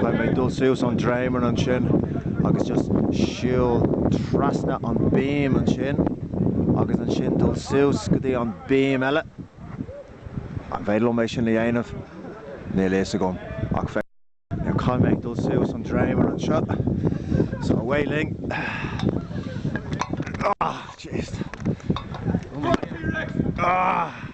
Caithfidh mé dul suas an dréimire ansin agus just siúl trasna an beam ansin agus ansin dul suas go dtí an beam eile. An féidir liom é sin a dhéanamh? Níl fhios agam ach féach, caithfidh mé dul suas an dréimire anseo. So away linn. Ah jeez. Fuck T-Rex! Ah!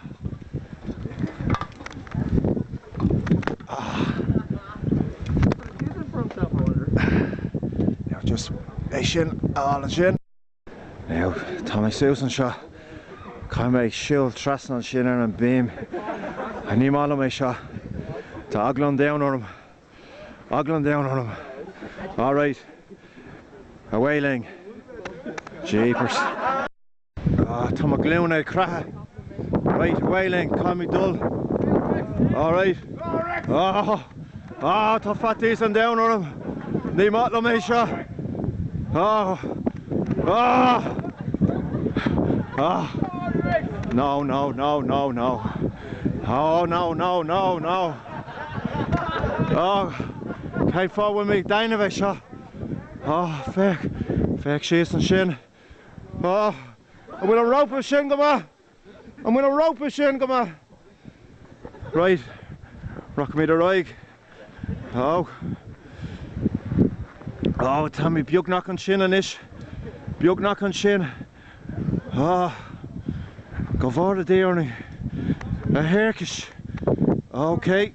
Tá mé suas anseo. Caithfidh mé ag siúl trasna ansin ar an beam. Ní maith liom é seo. Tá eagla an domhain orm. Eagla an domhain orm. Alright. Away linn. Jeepers. Ah, tá mo ghlúine ag creathadh. Raight, away linn, caithfidh mé dul. Alright. Ah! Ah, tá faitíos an domhain orm. Ní maith liom é seo. Ah! Ah! Ah! No, no, no, no, no. Oh, no, no, no, no. Oh, cén fáth a bhfuil mé ag déanamh é seo? Oh, féach, féach síos ansin. An bhfuil an rópa sin go maith? An bhfuil an rópa sin go maith? Raight, rachaimid ar aghaidh. Oh. Oh, táimid beagnach ansin anois. Beagnach ansin. Oh. Go bhfóire Dia orainn. A thiarcais. Okay.